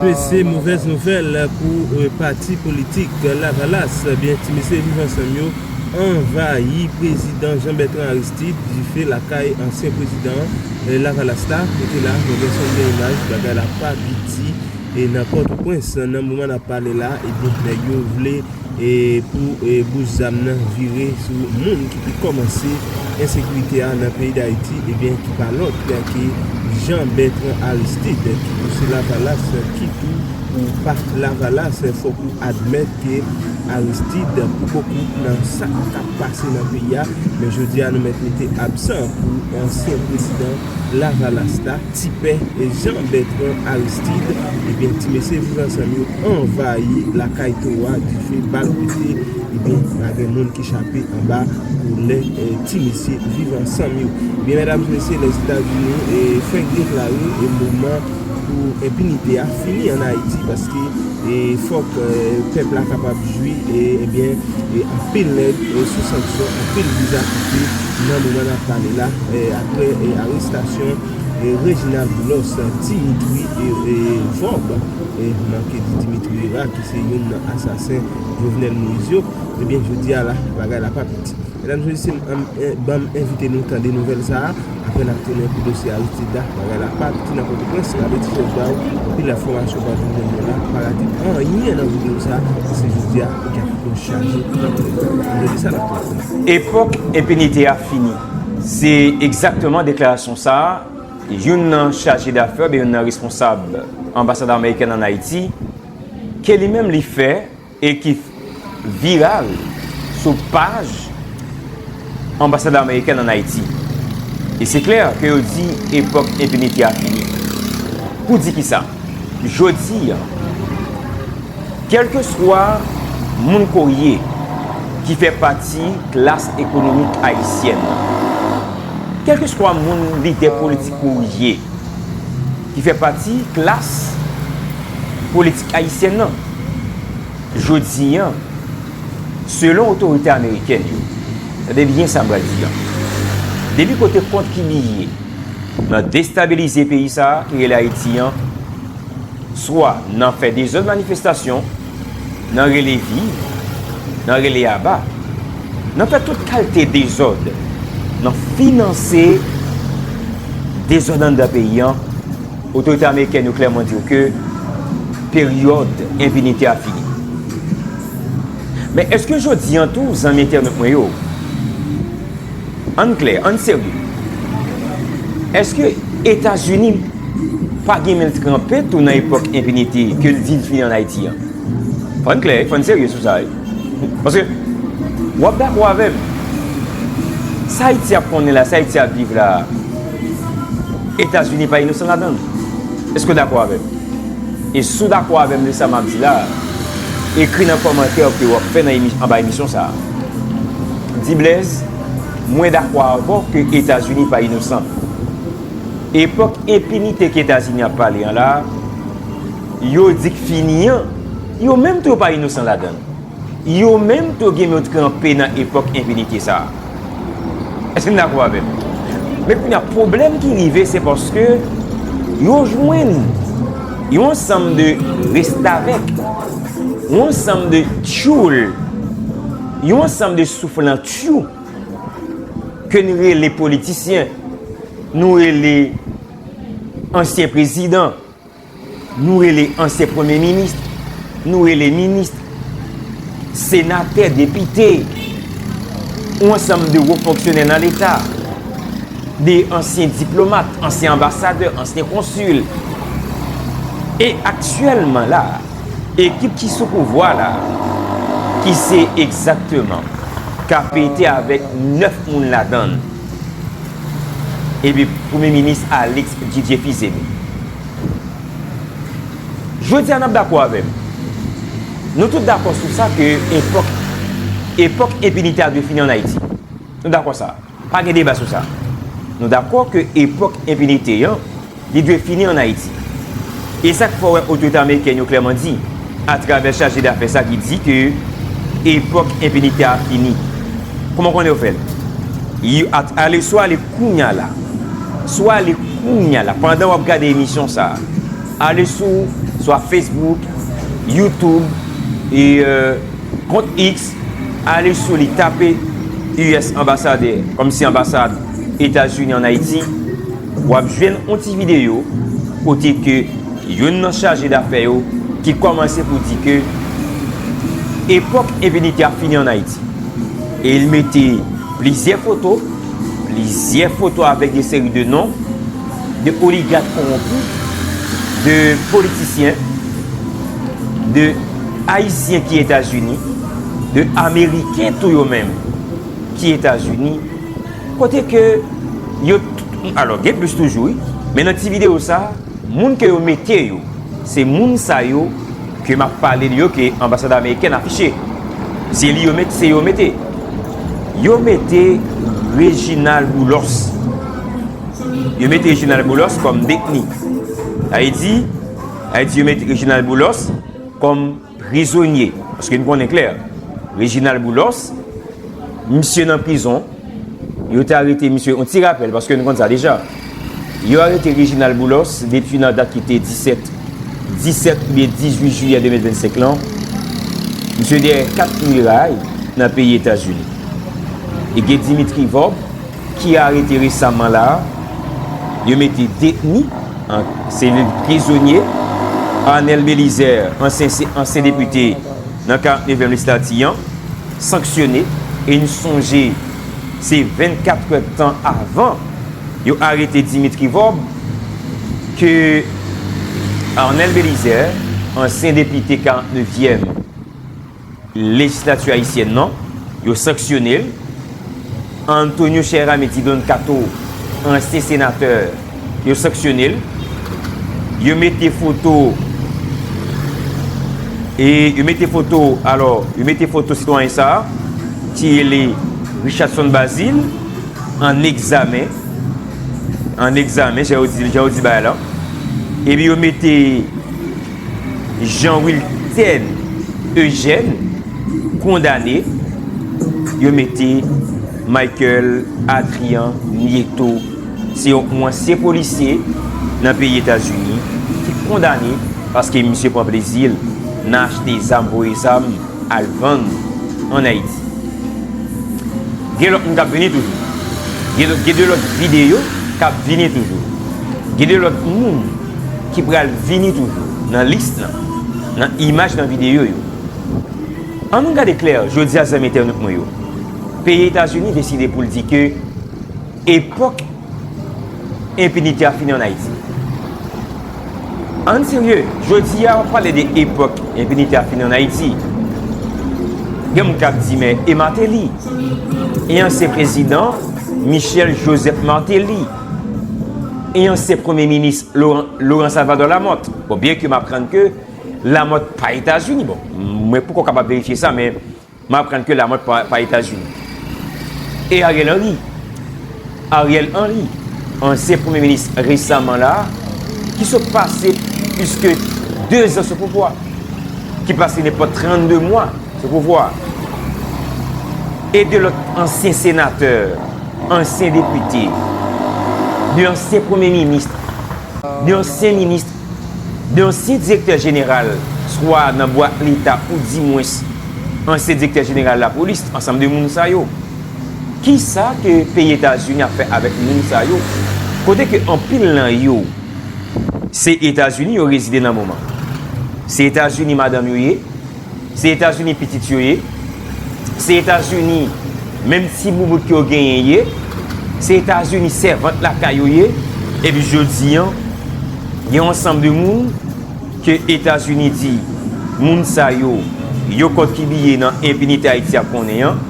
Mesye movèz nouvèl pou pati politik lavalas byen ti mesye viv ansanm yo anvayi prezidan Jean Bertrand Aristide dife lakay ansyen prezidan lavalas la rete la mwen gen son gen imaj bagay la pa piti nan pòtoprens nan moman nap pale la ebyen nèg yo vle e pou bous zam nan vire sou moun ki te kòmanse ensekirite a nan peyi Dayiti ebyen ki pa lòt ke Jean Bertrand Aristide ki pou se lavalas ki tou pou pa lavalas fòk ou admèt ke Aristide pou bokou nan sa k tap pase nan peyi a men jodi a nou mèt mete absan pou ansyen prezidan lavalas la. Ti pè Jean Bertrand Aristide ebyen ti mesye viv ansanm yo anvayi lakay toro a dife bal pete ebyen pa gen moun ki chape anba koulè ti mesye viv ansanm yo ebyen medam mesye lèzetazini fenk deklare moman pou enpinite a fini an ayiti paske fòk pèp la kapab jwi ebyen anpil nèg sou sanksyon anpil viza kite. Nan moman nap pale la, apre arestasyon Reginald Boulos, Dimitri Vorb, manke di Dimitri Herard ki se youn nan asasen Jovenel Moïse yo, ebyen jodi a la bagay la pa piti. Medam se mesye, banm envite nou tande nouvèl sa a, apre nap tounen pou dosye Aristide la, bagay la pa piti nan Pòtoprens, gade ti fòs ba ou, anpil enfòmasyon pral tou jwenn nou la, pa rate anyen nan videyo sa a, paske jodi a ou gen pou chaje antre. Jodi sa nap. Epòk enpinite a fini. Se egzakteman deklarasyon sa a youn nan chaje dafè oubyen youn nan responsab anbasad amerikèn ann Ayiti ke li menm li fè e ki viral sou paj anbasad amerikèn ann Ayiti. E se klè ke yo di epòk enpinite a fini. Pou di kisa? Jodi an, kèlkeswa moun ke w ye ki fè pati klas ekonomik ayisyèn nan, kèlkeswa moun lidè politik ke w ye ki fè pati klas politik ayisyèn nan, jodi an, selon otorite amerikèn yo, tande byen sa m pral di an, depi kote kont ki li ye, nan destabilize peyi sa ki rele Ayiti an, swa nan fè dezòd manifestasyon, nan rele viv, nan rele aba, nan fè tout kalte dezòd, nan finanse dezòd anndan peyi an, otorite amerikèn yo klèman di yo ke peryòd enpinite a fini. Men eske jodi an tou, zanmi entènot mwen yo, Ann klè, ann serye. Eske Etazini pa gen men l tranpe tou nan epòk enpinite ke l di l fini ann Ayiti an? Fò n klè, fò n serye sou sa wi. Paske, w ap dakò avè m, sa Ayiti ap konnen la, sa Ayiti ap viv la, Etazini pa inosan ladan l. Eske w dakò avè m? E si w dakò avè m de sa m ap di la, ekri nan kòmantè ke w ap fè nan anba emisyon sa a. Di Blaise, Mwen dakò avè w ke Etazini pa inosan. Epòk enpinite ke Etazini ap pale an la a, yo di k fini an, yo menm tou yo pa inosan ladan l. Yo menm tou gen yo t kanpe nan epòk enpinite sa. Èske n dakò avè m? Men kounye a pwoblèm ki rive se paske yo jwenn yon ansanm de restavèk, yon ansanm de tyoul, yon ansanm de souflantyou ke n rele politisyen, nou rele ansyen prezidan. Nou rele ansyen premye minis, nou rele minis, senatè, depite, ou ansanm de wo fonksyonè nan leta, de ansyen diplomat, ansyen anbasadè, ansyen konsil. E aktyèlman la, ekip ki sou pouvwa la, ki se egzakteman KPT avèk 9 moun ladann, Epi premye minis Alix Didier Fils-Aimé. Jodi a n ap dakò avè m. Nou tout dakò sou sa ke epòk, epòk enpinite a dwe fini an Ayiti. Nou dakò sa. Pa gen deba sou sa. Nou dakò ke epòk enpinite an. Li dwe fini an Ayiti. E sak fè w wè otorite amerikèn yo klèman di, a travè chaje dafè sa ki di ke epòk enpinitè a fini. Kouman w konnen yo fè l? Yo a ale swa ale kounya la, swa ale kounya la pandan w ap gade emisyon sa a, ale sou swa Facebook, YouTube, e kont X, ale sou li tape US Ambassadeur, kòmsi anbasad Etazini an Ayiti. Wap jwenn on ti videyo kote ke yonn nan chaje dafè yo ki kòmanse pou di ke epòk enpinite a fini an Ayiti. E li mete plizyè foto, plizyè foto avèk yon seri de non, de oligat konwonpi, de politisyen, de Ayisyen ki Etazini, de Ameriken tou yo menm ki Etazini. Kote ke yo t alò gen plis toujou wi men nan ti video sa moun ke yo mete yo se moun sa yo ke map pale li yo ke anbasad amerikèn afiche se li yo met se yo mete yo mete Reginald Boulos yo mete Reginald Boulos kòm detni sa vle di sa vle di yo mete Reginald Boulos kòm Prizonye, paske n konnen klè, Reginald Boulos, misye nan prizon, yo te arete misye, yon ti rapèl, paske n konn sa deja, yo arete Reginald Boulos depi nan dat ki te 17, 17 oubyen 18 jiyè 2025 lan, misye dèyè 4 miray nan peyi Etazini. E gen Dimitri Vorbe. ki arete resaman la a, yo mete detni, selil prizonye, Arnel Belizaire, ansyen depite nan 49 èm lejislati an, sanksyone e n sonje se 24 è tan avan yo arete Dimitri Vorbe ke Arnel Belizaire, ansyen depite 49 èm. Lejislati ayisyèn nan, yo sanksyone l. Antonio Cheramy Ti Don Kato, ansyen senatè, yo sanksyone l. Yo mete foto, e yo mete foto, alò, yo mete foto sitwayen sa a, ki rele Richardson Bazil, an egzamen, an egzamen, jan yo di bagay la. Epi yo mete. Jean Wilten Eugène kondane, yo mete Michael Adrian Nieto, se yon ansyen polisye nan peyi Etazini ki kondane paske misye pran plezi l nan achte zam, voye zam al vann an Ayiti. Gen lòt moun k ap vini toujou. Gen de lòt videyo k ap vini toujou. Gen de lòt moun. Ki pral vini toujou nan list lan nan imaj nan videyo yo. An nou gade klè jodi a zanmi entènot mwen yo. Peyi Etazini deside pou l di ke epòk enpinite a fini an Ayiti. An n serye, jodi a w ap pale de epòk enpinite a fini an Ayiti. Gen moun k ap di men e Martelly? E ansyen prezidan Michel Joseph Martelly? e ansyen premye minis Laurent Salvador Lamothe. Bon, byen ke m aprann ke Lamothe pa Etazini, bon, mwen poko kapab verifye sa, men m aprann ke Lamothe pa Etazini. E Ariel Henry, Ariel Henry, ansyen premye minis resaman la, ki sot pase plis ke 2 zan sou pouvwa, ki pase nenpòt 32 mwa sou pouvwa, e 2 lòt ansyen senatè, Ansyen depite. 2 ansyen premye minis. 2 ansyen minis. 2 ansyen direktè jeneral swa nan bwa leta ou di mwens ansyen direktè jeneral lapolis ansanm 2 moun sa yo. Kisa ke peyi etazini ap fè avèk moun sa yo kote ke anpil nan yo se etazini yo rezide nan moman. Se etazini madanm yo ye. Se etazini pitit yo ye, se etazini menm ti boubout ke yo genyen ye, se etazini sèvant lakay yo ye, epi jodi an gen yon ansanm de moun ke etazini di moun sa yo yo kòkibiye nan enpinite ayiti ap konnen an.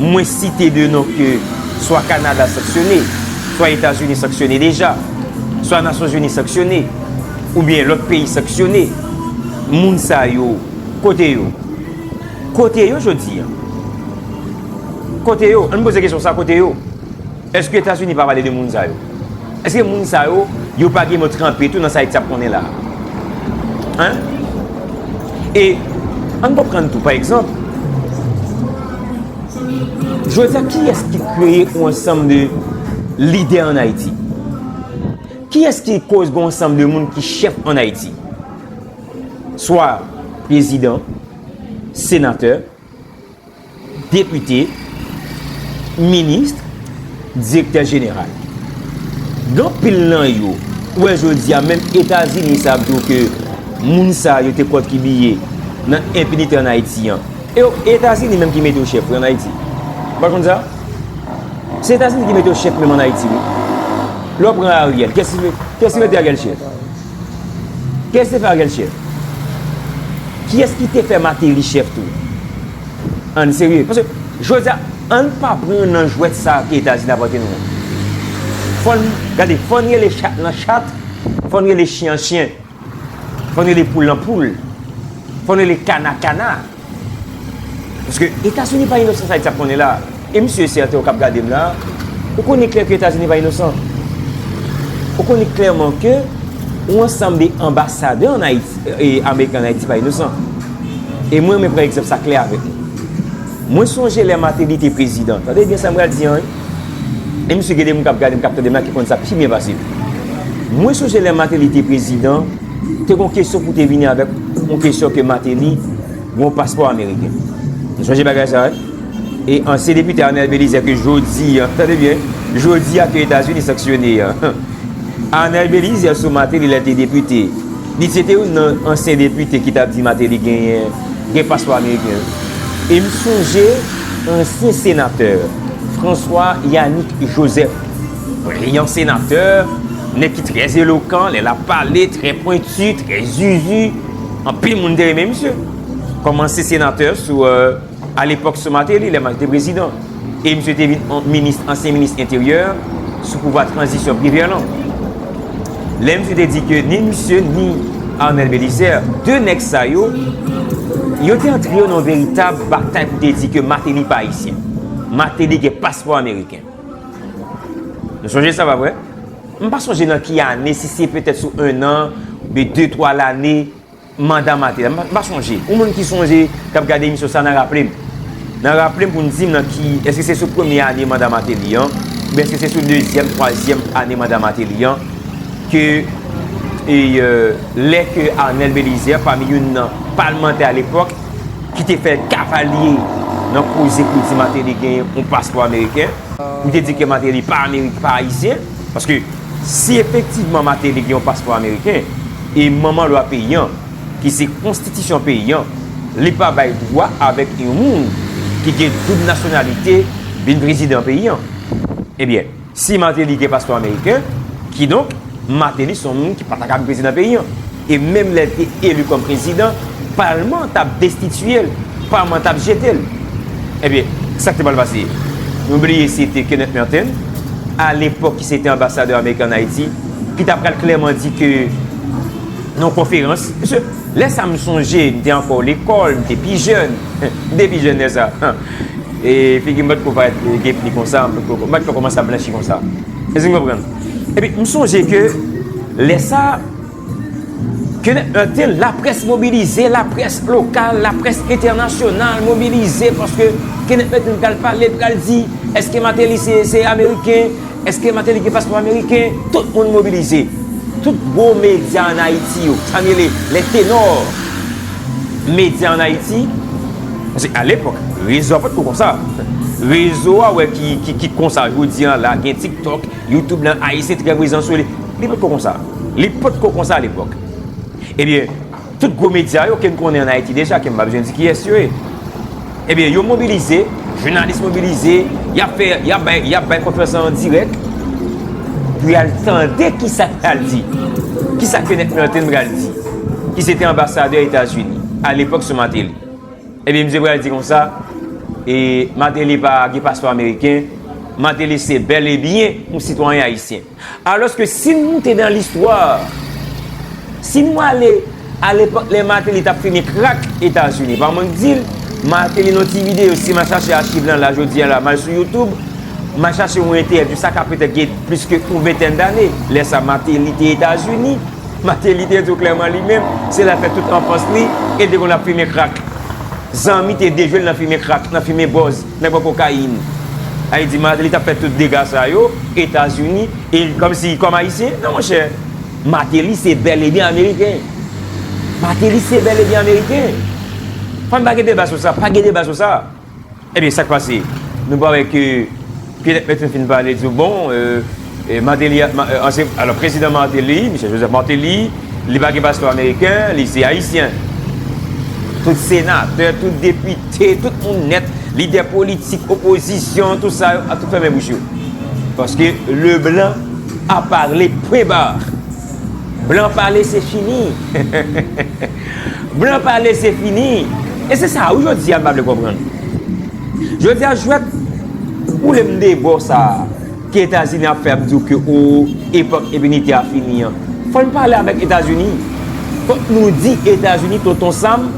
Mwen site 2 non ke swa Kanada sanksyone, swa Etazini sanksyone deja, swa Nasyonzini sanksyone, oubyen lòt peyi sanksyone. Moun sa yo, kote yo? Kote yo jodi a? Kote yo? Ann poze kesyon sa, kote yo? Eske etazini pa pale de moun sa yo? Eske moun sa yo, yo pa gen mo tranpe tou nan sa Haiti ap konnen la? Hein? E ann konprann tou pa egzanp, jodi a kiyès ki kreye yon ansanm de lidè ann Haiti? Kiyès ki koz gen yon ansanm de moun ki chèf ann Haiti? Swa prezidan, senatè, Depite, ministre, direktè jeneral. Gen anpil nan yo, ou wè jodi a menm Etazini sa ap di w ke moun sa yo te kontribiye nan enpinite an Ayiti an. E o, e Etazini menm ki mete yo chèf wi an Ayiti. Ou pa konn sa? Se Etazini ki mete yo chèf menm an Ayiti wi. Lè w pran Ariel, kiyès ki mete Ariel chèf? Kiyès te fè Ariel chèf? Kiyès ki te fè Mateli chèf tou? Ann serye. Paske, jodi a, ann pa pran nan jwèt sa a ke Etazini ap rantre nou an. Fò n, gade, fò n rele chat lan chat, fò n rele chyen an chyen, fò n rele poul lan poul, fò n rele kana kana. Paske etazini pa inosan sa Haiti ap konnen la. E misye e sèten ou kap gadem la, ou konnen klè ke etazini pa inosan. Ou konnen klèman ke ou ansanm de anbasadè an Haiti, e ameriken an Haiti pa inosan. E mwen renmen pran egzanp sa klè avèk nou. Mwen sonje lè Martelly te prezidan, tande byen sam pral di an wi. E misye gen de moun kap gadem, kap tandem la ki konnen sa pi byen pasem. Mwen sonje lè Martelly te prezidan. Te gon kesyon pou te vini avèk yon kesyon ke Martelly gon paspò ameriken. Nou sonje bagay sa wi. E ansyen depite Arnel Belizaire ke jodi an, tande byen, jodi a ke Etazini sanksyone an. Arnel Belizaire sou Martelly lè l te depite. Li se te youn nan ansyen depite ki tap di Martelly genyen, gen paspò ameriken wi. E m sonje ansyen senatè François Yanick Joseph. Vre yon senatè, nèg ki trè elokan lè lap pale, trè pwentu, trè zuzu, anpil moun te renmen misye. Kòmanse senatè sou alepòk sou Mateli lè Mateli te prezidan. E misye te vin minis, ansyen minis enteryè sou pouvwa tranzisyon Privè lan. Lè misye te di ke ni misye ni Arnel Belizaire, 2 nèg sa yo, yo te antre yo nan yon veritab batay pou te di ke Mateli pa ayisyen. Mateli gen paspò ameriken. Nou sonje sa pa vre? M pa sonje nan ki ane, si se petèt sou 1 an, oubyen 2, 3 lane, manda m a te la. M pa sonje. Yon moun ki sonje, k ap gade emisyon sa nan raple m. Nan raple m pou n di m nan ki, èske se sou premye ane manda Mateli an, oubyen èske se sou dezyèm, twazyèm ane manda Mateli an, ke lè ke Arnel Belizaire, pami youn nan palmantè alepòk, ki te fè l kavalye nan koze pou di Martelly gen yon paspò ameriken, pou te di ke Martelly pa ameriken, pa ayisyen, paske si efektivman Martelly gen yon paspò ameriken, e manman lwa peyi an, ki se konstitisyon peyi an, li pa bay dwa avèk yon moun ki gen doub nasyonalite vin prezidan peyi an. Ebyen. Si Martelly gen paspò ameriken, kidonk, Martelly son moun ki pa ta ka vin prezidan peyi an. E menm lè l te eli kòm prezidan, palman an t ap destitiye l, palman an t ap jete l. Ebyen, sa k te pral pase? Nou bliye se te Kenneth Merten, alepòk ki se te anbasadè ameriken ann Ayiti, ki ta pral klèman di ke nan yon konferans, mesye, lè sa a m sonje m te ankò lekòl, m te pi jèn, m te pi jèn lè sa a. E figi m pa t ko parèt gepli konsa, m pa t ko kòmanse ap blanchi konsa. Èske n konprann? Epi, m sonje ke lè sa, ke nèg lan te laprès mobilize, laprès lokal, laprès entènasyonal mobilize paske ke nèg lan te pral pale, pral di, èske Mateli se ameriken, èske Mateli gen paspò ameriken, tout moun mobilize. Tout gwo medya an Ayiti yo, sa nou rele, les ténors. Medya an Ayiti, paske a lepòk, rezo a pa t ko konsa. Rezo a wè ki konsa jodi an la, gen TikTok, YouTube nan, Ayisyen trè prezan sou li. Li pa t ko konsa. Li pa t ko konsa a lepòk. Ebyen, tout gwo medya yo ke n konnen an Ayiti deja, ke m pa bezwen di kiyès yo ye. Ebyen yo mobilize, jounalis mobilize, y ap fè, y ap bay, y ap bay konferans lan an dirèk pou y al tande ki sa k pral di, ki sa Kenneth Merten pral di, ki se te anbasadè Etazini alepòk sou Mateli. Ebyen misye pral di konsa, e Mateli pa gen paspò ameriken, Mateli se bèl e byen yon sitwayen ayisyen. Alòske si n moute dan listwa, si nou ale alepòk lè Mateli t ap fimen krak Etazini, pa mank di l, Mateli nan ti videyo, si m al chache achiv lan la jodi a la, m al sou Youtube, m al chache yon entèvyou, sa ka petèt gen plis ke yon ventèn dane, lè sa Mateli te Etazini, Mateli te di w klèman li menm, se la l fè tout anfans li, e l te konn ap fimen krak. Zanmi te dejwe l nan fimen krak, nan fimen bòz. Nèg pran kokayin. Ay di Martelly tap fè tout dega sa yo, Etazini, e li kòm si, kòm Ayisyen? Non monchè. Martelly se bèl e byen Ameriken. Martelly se bèl e byen Ameriken. Ann pa gen deba sou sa. Pa gen deba sou sa. Ebyen sak pase? Nou pa wè ke, Pierre Lepleton fin pale, di yo bon, e. Martelly a, ansyen, alò prezidan Martelly, Michel Joseph Martelly, li pa gen paspò ameriken, li se ayisyen. Tout senatè, tout depite, tout moun nèt, lidè politik, opozisyon, tout sa yo, a tout fèmen bouch yo. Paske le blan a parle, pwen bar. Blan pale se fini. Blan pale se fini. E se sa wi jodi a m pa vle konprann. Jodi a jwèt ou lè m de bò sa a, Ke etazini ap fè ap diw ke oo epòk enpinite a fini an fòn pale avèk etazini fòk nou di etazini tonton sam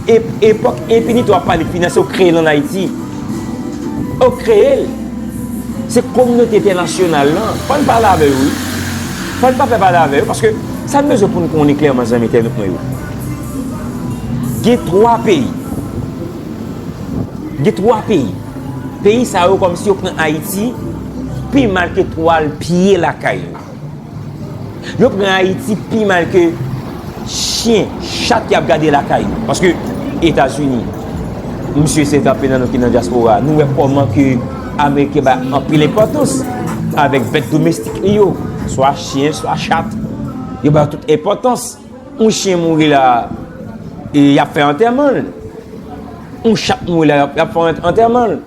ep epòk enpinite wap pale finanse ou kreyel an ayiti ou kreyel se kominote entènasyonal lan fòn pale avè yo wi fòn pa pè pale avè yo paske sa nou bezwen poun konnen klèman zanmi entènot mwen yo gen 3 peyi gen 3 peyi. Peyi sa yo kòmsi yo pran Ayiti pi mal ke twal pye lakay yo. Yo pran Ayiti pi mal ke chyen, chat yap gade lakay yo. Paske Etazini, msye se anpil nan nou ki nan dyaspora, nou wè kòman ke Ameriken bay anpil enpòtans avèk bèt domestik li yo, swa chyen, swa chat. Yo bay yo tout enpòtans. Yon chyen mouri la e yap fè antèman l. Yon chat mouri la yap fè antèman l.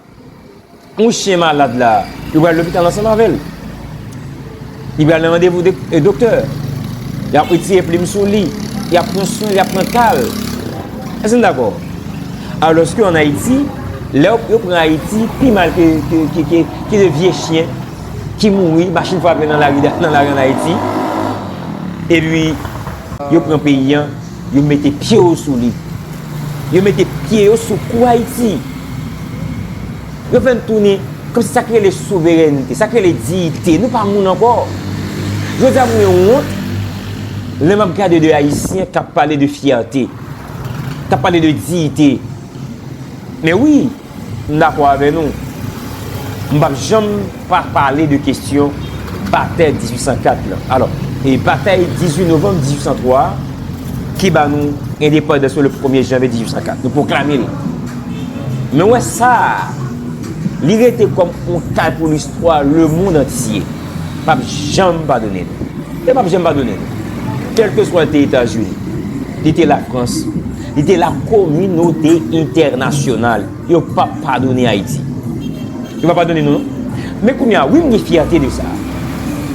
Yon chyen malad la yo pral lopital ansanm avè l. Li pral nan randevou doktè. Yap retire plim sou li. Yap pran swen l, yap pran ka l. Èske nou dakò? Alòske an Ayiti, lè yo pran Ayiti pi mal ke de vye chyen. ki mouri, machin frape nan lari an Ayiti, epi yo pran peyi an, yo mete pye yo sou li. Yo mete pye yo sou kou Ayiti. Yo fè n tounen, kòm si sa ki rele souverènte, sa ki rele diyite, nou pa moun ankò. Jodi a mwen wont, lè m ap gade de Ayisyen k ap pale de fyète, k ap pale de diyite. Men wi! M dakò avè nou. M pap janm pa pale de kestyon batay 1804 lan. Alò, e batay 18 novanm 1803 a ki ba nou endepandans nou le premye janvye 1804. Nou pwoklame l. Men wè sa a, li rete kòm on kal pou listwa lemond antye. Pap janm padone nou. E pap janm padone nou. Kèlkeswa l te Etazini, li te Lafrans. Li te la kominote entènasyonal yo pap padone Ayiti. Yo pa padone nou non. Men kounye a, wi m gen fyète de sa.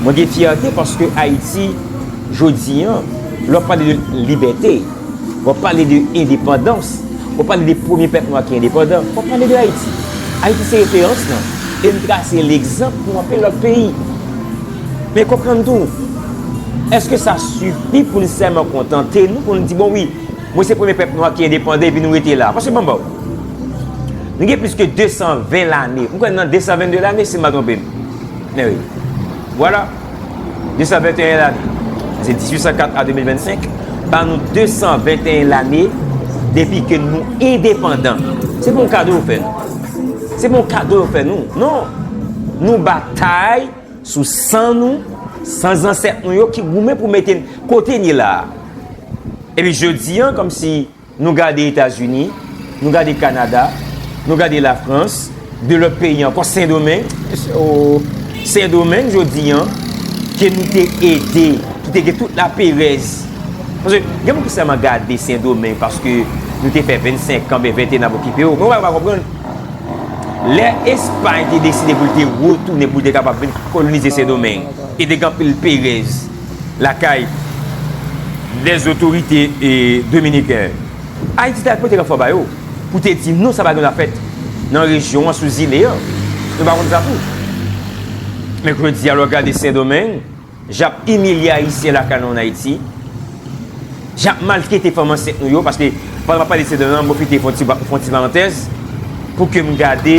Mwen gen fyète paske Ayiti jodi an, lè w ap pale de libète, w ap pale de endepandans, w ap pale de premye pèp nwa ki endepandan, w ap pale de Ayiti. Ayiti se referans lan e li trase legzanp pou anpil lòt peyi. Men konprann tou, èske sa sifi pou n sèlman kontante nou pou n di bon wi, Mwen se premye pèp nwa ki endepandan epi nou rete la. Paske banm baw. Nou gen plis ke 220 lane. Mwen kwè nou nan 222 lane si m pa twonpe m. Men wi. Vwala. 221 lane. Sa se 1804 a 2025. Ban nou 221 lane depi ke nou endepandan. Se pa yon kado yo fè nou. Se pa yon kado yo fè nou. Non. Nou batay. Sou san nou, san zansèt nou yo ki goumen pou mete n kote n ye la a. Epi jodi an, kòmsi nou gade Etazini, nou gade Kanada, nou gade Lafrans, de lòt peyi ankò, Sendomeng, mesye o, Sendomeng jodi an, ke nou te ede, ki te gen tout laperèz. Paske gen moun ki sèlman gade Sendomeng paske nou te fè 25 an, oubyen 21 n ap okipe yo. Men w pa konprann. Lè Espay te deside pou l te retounen pou l te kapab vin kolonize Sendomeng, e te gen anpil perèz lakay lèzotorite dominiken, Ayiti t al pote ranfò ba yo pou te di non sa pa gen dwa fèt nan rejyon an sou zile an. Nou pa konn sa tou. Men jodi a lè w gade Sendomeng. Jap imilye ayisyen lakay nou an Ayiti, jap maltrete fanm ansent nou yo, paske pandan map pale de Sedan an, mwen pwofite fon ti parantèz pou ke m gade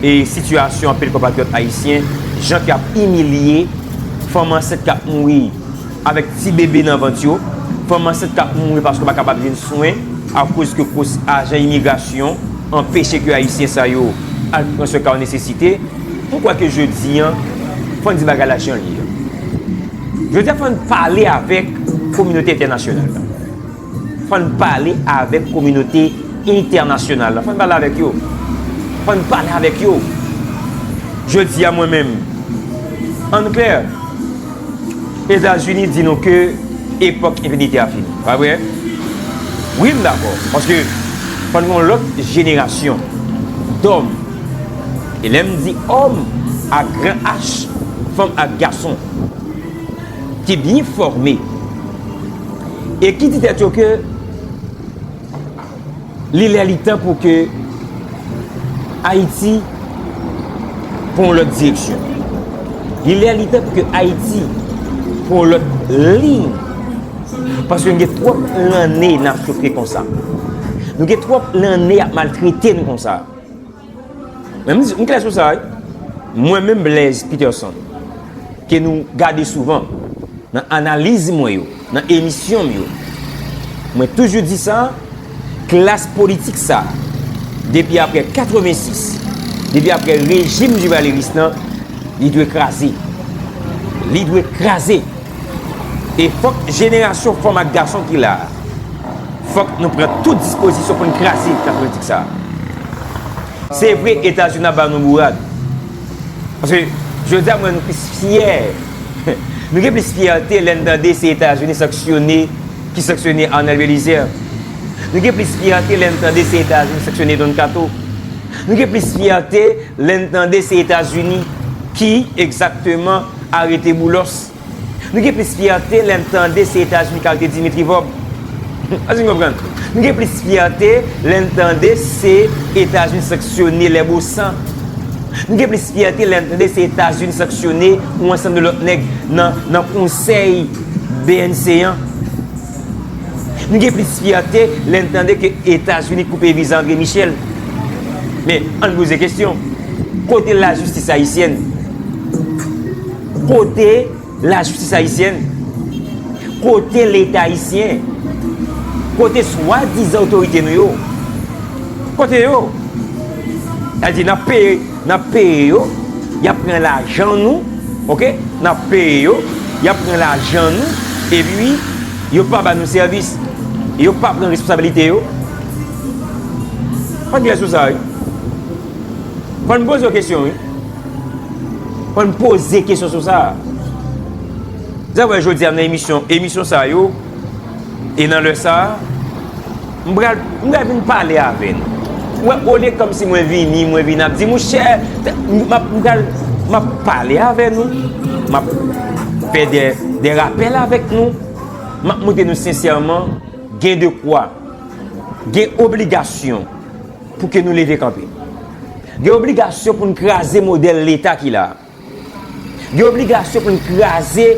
sitiyasyon anpil konpatriyòt ayisyen, jan ke yap imilye fanm ansent kap mouri avèk ti bebe nan vant yo, fanm ansent kap mouri paske yo pa kapab jwenn swen akoz ke ajan imigrasyon anpeche ke ayisyen sa yo al pran swen ka yo nesesite. M kwè ke jodi an, fò n di bagay la jan l ye an. Jodi a fò n pale avèk kominote entènasyonal la. Fò n pale avèk kominote entènasyonal la. Fò n pale avèk yo. Fò n pale avèk yo. Jodi a mwen menm, an n klè, Etazini di nou ke epòk enpinite a fini. Pa vre? Wi m dakò. Paske fò n gen yon lòt jenerasyon dòm. E lè m di òm ak gran H, fanm ak gason ki byen fòme e ki di tèt yo ke li lè li tan pou ke Ayiti pran yon lòt direksyon, li lè li tan pou ke Ayiti pran yon lòt liy, paske nou gen twòp lanne nan soufri konsa, nou gen twòp lanne y ap maltrete nou konsa. Men m di, m klè sou sa wi. Mwen menm Blaise Peterson, ke nou gade souvan nan analiz mwen yo, nan emisyon m yo, mwen toujou di sa, klas politik sa, depi aprè 86, depi aprè rejim Duvalier-Rice lan, li dwe kraze. Li dwe kraze! E fòk jenerasyon fanm ak gason ki la a, fòk nou pran tout dispozisyon pou n kraze dikta politik sa a. Se vre Etazini ap ba nou bourad, paske jodi a m wè nou plis fyè, nou gen plis fyète lè n tande se Etazini sanksyone, ki sanksyone Arnel Belizaire. Nou gen plis fyète lè n tande se Etazini sanksyone Don Kato. Nou gen plis fyète lè n tande se Etazini ki egzakteman. Arete Boulos. Nou gen plis fyète lè n tande se Etazini k arete Dimitri Vob. Èske n konprann? Nou gen plis fyète lè n tande se Etazini sanksyone Les Bossan. Nou gen plis fyète lè n tande se Etazini sanksyone yon ansanm de lòt nèg nan konsèy bnc an. Nou gen plis fyète lè n tande ke Etazini koupe viza André Michel. Men, ann poze kesyon, kote lajistis ayisyèn? Kote lajistis ayisyèn? Kote Leta ayisyen? Kote swadizan otorite nou yo? Kote yo? Sa vle di, n ap peye. Nap peye yo, yap pran lajan nou ok nap peye yo, yap pran lajan nou epi yo pa ba nou sèvis yo pa pran responsabilite yo pa gen lè sou sa wi fò n poze yo kesyon wi fò n poze kesyon sou sa zè wè jodi a nan emisyon emisyon sa yo e nan lè sa a M pral m pral vin pale avè nou. Ou wè olye kòmsi mwen vini, mwen vin ap di mouche m ap m pral m ap pale avè nou, m ap fè dè dè rapèl avèk nou, m ap montre nou sensèman gen de kwa, gen obligasyon pou ke nou leve kanpe. Gen obligasyon pou n kraze modèl leta ki la a. Gen obligasyon pou n kraze,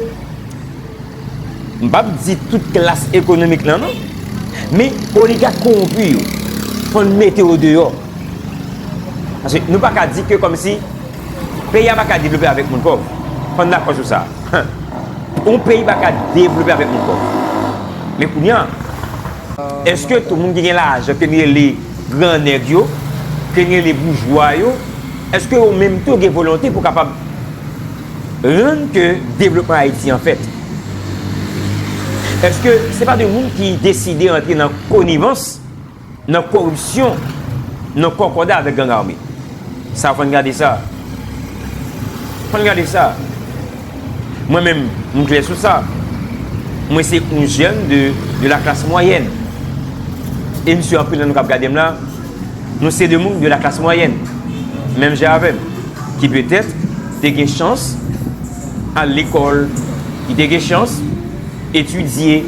m p ap di tout klas ekonomik lan non, men oligak kowonpi yo, fò n mete yo deyò. Paske nou pa ka di ke kòm si peyi a pa ka devlope avèk moun pòv. Fò n dakò sou sa. Yon peyi pa ka devlope avèk moun pòv. Men kounye an, èske tout moun ki gen lajan ke n rele gran nèg yo, ke n rele boujwa yo, Eske yo menm tou gen volonte pou kapab rann ke devlopman Ayiti an fèt? Eske se pa de moun ki deside antre nan konivans, nan koripsyon, nan kòkòda avèk gang ame? Sa fò n gade sa. Fò n gade sa. Mwen menm, m klè sou sa. Mwen se yon jèn de la klas mwayèn. E m si anpil nan nou k ap gade m la, Nou se 2 moun de la klas mwayèn, menm jan avè m, ki petèt te gen chans al lekòl, ki te gen chans etidye,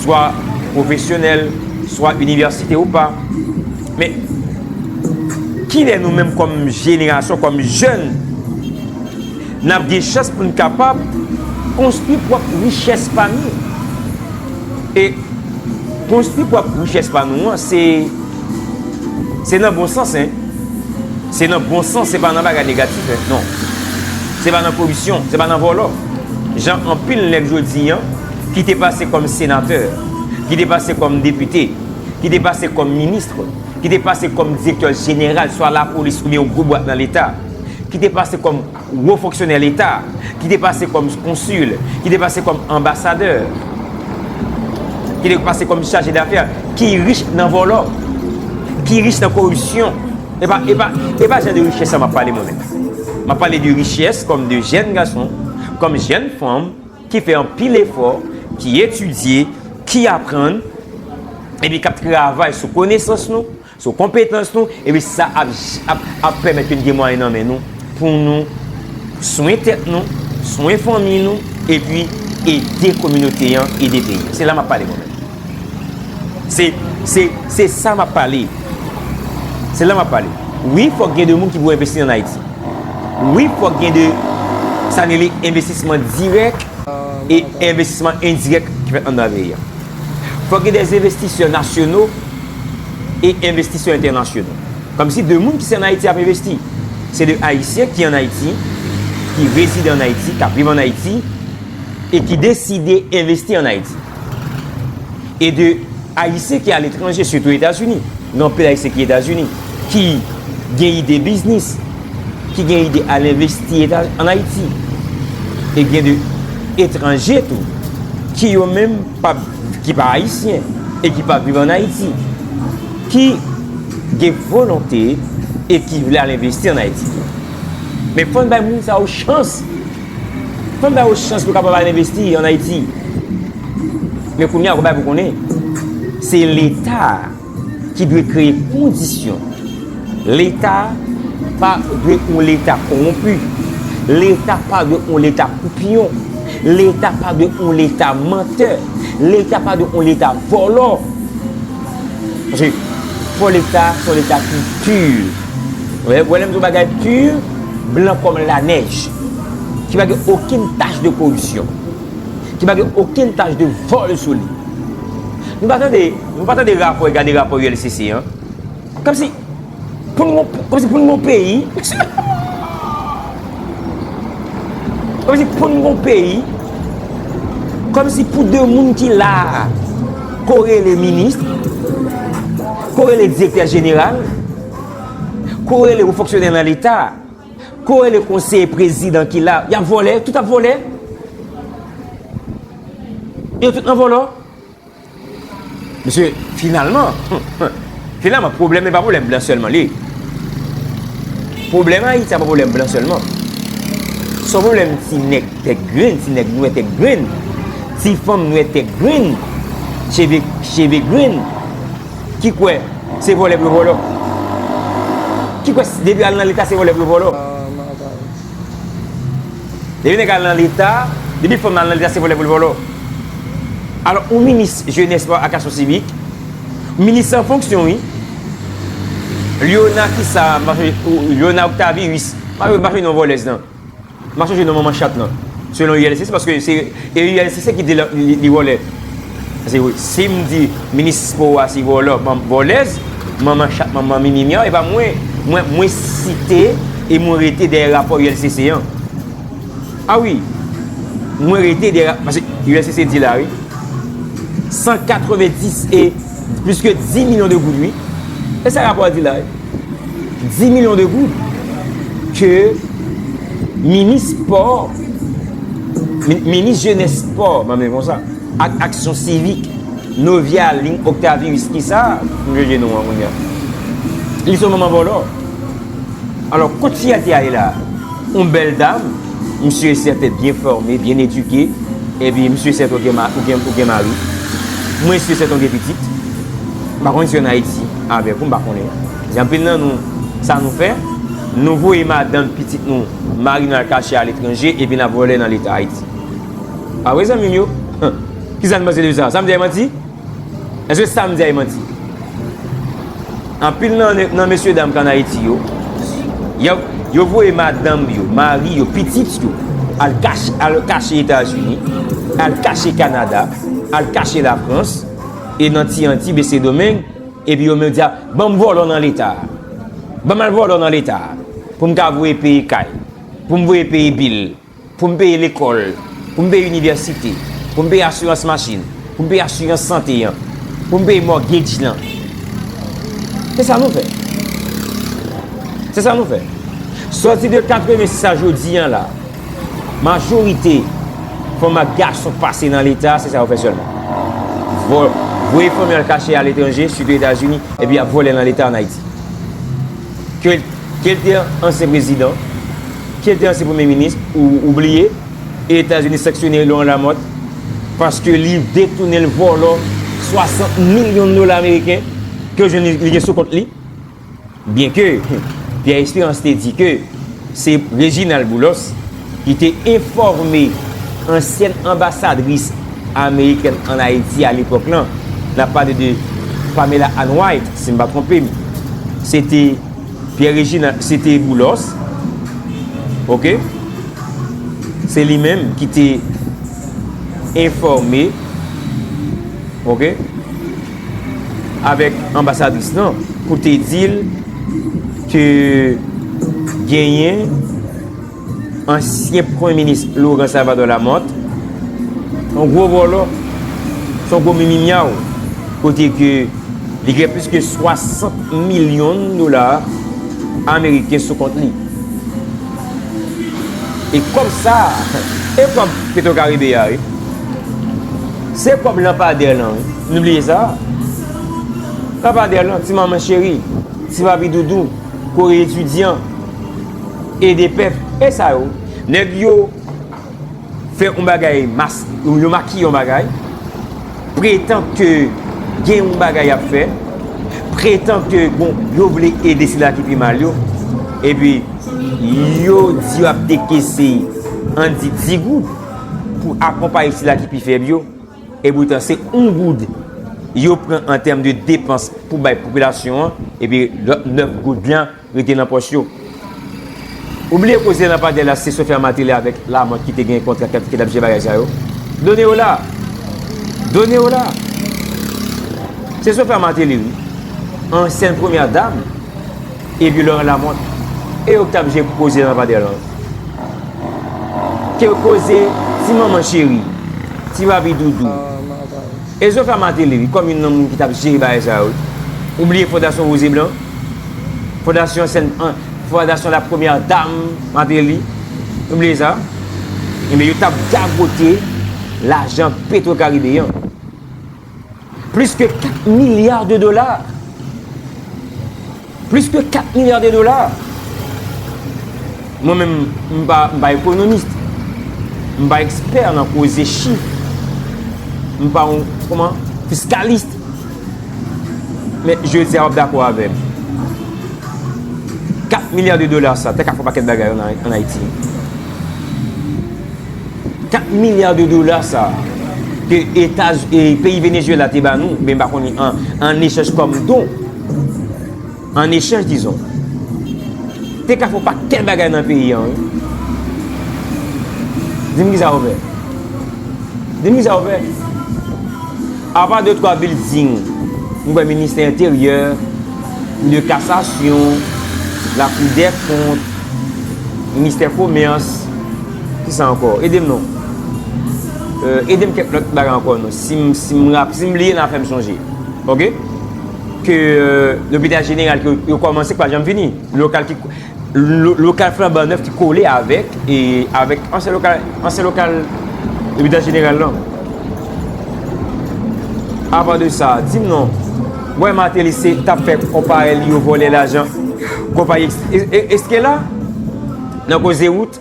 swa pwofesyonèl, swa inivèsite ou pa. Men, kilè nou menm kòm jenerasyon, kòm jèn, n ap gen chans pou n kapab konstwi pwòp richès pa nou? E konstwi pwòp richès pa nou an, se. Se nan bon sans hein. Se nan bon sans se pa nan bagay negatif hein non. Se pa nan koripsyon, se pa nan vòlò. Jan anpil nèg jodi an ki te pase kòm senatè, ki te pase kòm depite, ki te pase kòm ministre, ki te pase kòm direktè jeneral swa lapolis oubyen yon gwo bwat nan leta, ki te pase kòm Wo fonksyonè leta, ki te pase kòm konsil, ki te pase kòm anbasadè, ki te pase kòm chaje dafè, ki rich nan vòlò, ki rich nan koripsyon. E pa jan de richès sa m ap pale mwen menm. M ap pale de richès kòm de jèn gason, kòm jèn fanm, ki fè anpil efò, ki etidye, ki aprann, epi k ap travay sou konesans nou, So konpetans nou, epi sa ap pèmèt ke n gen mwayen nan men nou pou nou swen tèt nou, swen fanmi nou, epi ede kominote an, ede peyi an. Se la m ap pale mwen menm. Se sa m ap pale. Se la m ap pale. Wi fòk gen de moun ki pou envesti an Ayiti. Wi fòk gen de sa n rele envestisman dirèk e envestisman endirèk ki fèt anndan peyi an. Fòk gen de envestisè nasyono. e envestisè entènasyonal. Kòmsi de moun ki se an Ayiti ap envesti. Se de Ayisyen ki an Ayiti, ki rezide an Ayiti, k ap viv an Ayiti e ki deside envesti an Ayiti. E de Ayisyen ki aletranje, sitou Etazini. Gen anpil Ayisyen ki Etazini, ki gen ide biznis, ki gen ide al envesti an Ayiti. E gen de etranje tou, ki yo menm. Pap ki pa ayisyen e ki pap viv an Ayiti ki gen volonte e ki vle al envesti an Ayiti. Men fò n bay moun sa yo chans. Fò n bay yo chans pou yo kapab al envesti an Ayiti. Men kounye a, wap bay pou konnen, se leta a. ki dwe kreye kondisyon. Leta pa dwe yon leta konwonpi. Leta pa dwe yon leta koupyon. Leta pa dwe yon leta mantè. Leta pa dwe yon leta vòlò. Paske, fò leta se yon leta ki pur. Wè lè m di yon bagay pur, blan kòm lanèj. Ki pa gen okenn tach de koripsyon. Ki pa gen okenn tach de vòl sou li. Nou pa tande, nou pa tande rapò, gade rapò ULCC an. Kòm si pou nou, kòm si pou nou gon peyi, kòm si pou nou gon peyi, kòm si pou de moun ki la a, ko rele minis, ko rele direktè jeneral, ko rele ou fonksyonè nan leta. Kore le konseye prezidan ki la yap vole tout ap vole yo tout nan volo mesye finalman finalman probleme pa probleme blan selman li probleme ayiti pa probleme blan selman son probleme ti neg tet grin ti neg nwe tet grin ti fanm nwe tet grin cheve grin Ki kwè se vòlè pou yo vòlò. Ki kwè depi yo al nan leta se vòlè pou yo vòlò. Depi nèg al nan leta, depi fanm al nan leta se vòlè pou l vòlò. Alò yon minis jenès espo ak aksyon sivik, minis an fonksyon wi, Lyona kisa, Lyona Octavius, m pa jwenn non vòlèz nan. M pa sonje non manman chat nan. Selon ULCC paske se e ULCC ki di li vòlè. Paske si m di minis spò a se vòlò, vòlèz, manman chat, manman mimi myaw, e pa mwen, mwen mwen site e mwen rete dèyè rapò ULCC an. A wi. Mwen rete dèyè rap, paske ULCC di la wi. 190 e plis ke 10 milyon de goud wi. E sa rapò a di la wi. 10 milyon de goud ke minis spò, minis jenè spò, mwen mwen kon sa, ak aksyon sivik, Novia Lin Octavius, ki sa, mwen mwen jenou an mwen mwen. Li son manman vòlò. Alò, kot fi a te ale la? On bèl dam, misye e sèten byen fòme, byen edike, e pi misye e sèten ou gen mari. Mwen si e sèten ou gen pitit. Mwen pa konnen si an Ayiti. avèk ou m pa konnen si anpil nan nou sa nou fè nou voye madanm pitit nou mari nou al kache aletranje epi nap vòlè nan leta ayiti pa vre zanmim yo kisa nou panse de sa sam di a e manti èske sam di a e manti anpil nan mesye dam kan ayiti yo yo voye madanm yo mari yo pitit yo al kache etazini al kache kanada al kache lafrans E nan ti antib e sedomeng epi yo menm di a banm vòlò nan leta a banm al vòlò nan leta a poum ka voye peye kay poum voye peye bil poum peye lekòl poum peye inivèsite poum peye asirans machin poum peye asirans sante an poum peye mògedj lan se sa nou fè se sa nou fè sòti de 86 a jodi an la. Majorite fanm ak gason k pase nan leta se sa yo fè sèlman. Voye fanm yo al kache a letranje, sitou Etazini, epi ap vòlè nan leta an Ayiti. Ke l te ansyen prezidan, ke l te ansyen premye minis, ou bliye Etazini sanksyone Laurent Lamothe paske li detounen, l vòlò 60 milyon dola ameriken ke yo jwenn li gen sou kont li. Byenke Pierre Espérance te di ke se Réginald Boulos ki te enfòme ansyèn anbasadris amerikèn an Ayiti alepòk lan, n ap pale de Pamela Ann White, si m pa twonpe m, se te Pierre Réginald, se te Boulos, ok, se li menm ki te enfòme, ok. avèk anbasadris lan pou te di l ke genyen ansyen premye minis Laurent Salvador Lamothe son gwo vòlò, son gwo mimimyaw kote ke li gen plis ke 60 milyon dola ameriken sou kont li. E kòb sa a, e kòb Petro Caribe a wi. Se kòb lanpadè lan wi. Nou bliye sa? Papa Derlon, ti manman cheri, ti papi doudou, kore etidyan, ede pèp, e sa yo? Nèg yo fè yon bagay, yo makiye yon bagay, pretan ke gen yon bagay y ap fè, pretan ke yo vle ede sila ki pi mal yo, epi yo di yo ap dekese, an di 10 goud, pou akonpaye sila ki pi fèb yo. Epoutan se 1 goud yo pran an tèm de depans pou bay popilasyon an epi lòt 9 goud lan rete nan pòch yo. Ou bliye koze lanpadè la se Sofia Martelly avèk Lamothe ki te gen kontra ki t ap jere bagay sa yo. Done yo la. Done yo la. Se Sofia Martelly wi. Ansyèn premyè dam. Epi Laurent Lamothe e yo ki t ap jwe koze nan Padre Lanz. Ke koze ti manman cheri, ti papi doudou. E Zofe a Martelly wi kòm youn nan moun ki t ap jere bagay sa yo wi. Ou bliye Fondasyon Woze Blan? Fondasyon Sen an, Fondasyon La Premyè Dam Martelly? Nou bliye sa? Enben yo t ap gagote lajan Petro Caribe an. Plis ke 4 milya de dola! Plis ke 4 milya de dola! Mwen menm, m pa ekonomist, m pa ekspè nan koze chif, m pa yon, kouman, fiskalist. Men, je di a wap dakò avè m. 4 milya de dola sa, te ka fè yon pakèt bagay an Ayiti. 4 milya de dola sa a ke etaz e peyi Venezuela te ba nou, oubyen m pa konnen an, an echanj kòm don, an echanj dizon, te ka fè yon pakèt bagay nan peyi an wi. Di m ki sa yo fè? Di m ki sa yo fè? Apa de twa bilding, m kwè ministè enteryè, kou de kasasyon, lakou dè kont, Ministè komès, ki sa ankò? Ede m non. Ede m kèk lòt bagay ankò non. Si m bliye nan fè m sonje. Ok? Ke lopital jeneral ke yo kòmanse ki pa janm fini. Lokal ki, lokal flanban nèf ki kole avèk, avèk ansyen lokal, ansyen lokal lopital jeneral lan. Apa de sa, di m non. Mwen Martelly se tap fè konparè li yo vòlè lajan konpayi eske la nan koze wout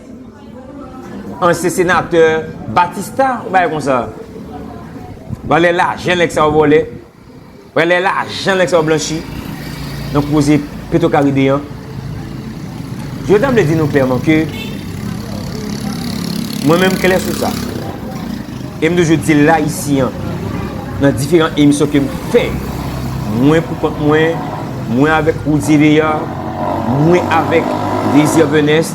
ansyen senatè batista yon bagay konsa vòlè lajan nèg sa yo vòlè vòlè lajan nèg sa yo blanchi nan koze petro karibe an. Yo ta vle di nou klèman ke, mwen menm klè sou sa, e m toujou di l la isi an, nan diferan emisyon ke m fè, mwen pou kont mwen, mwen avèk Roudy Veillard, mwen avèk Désir Venest,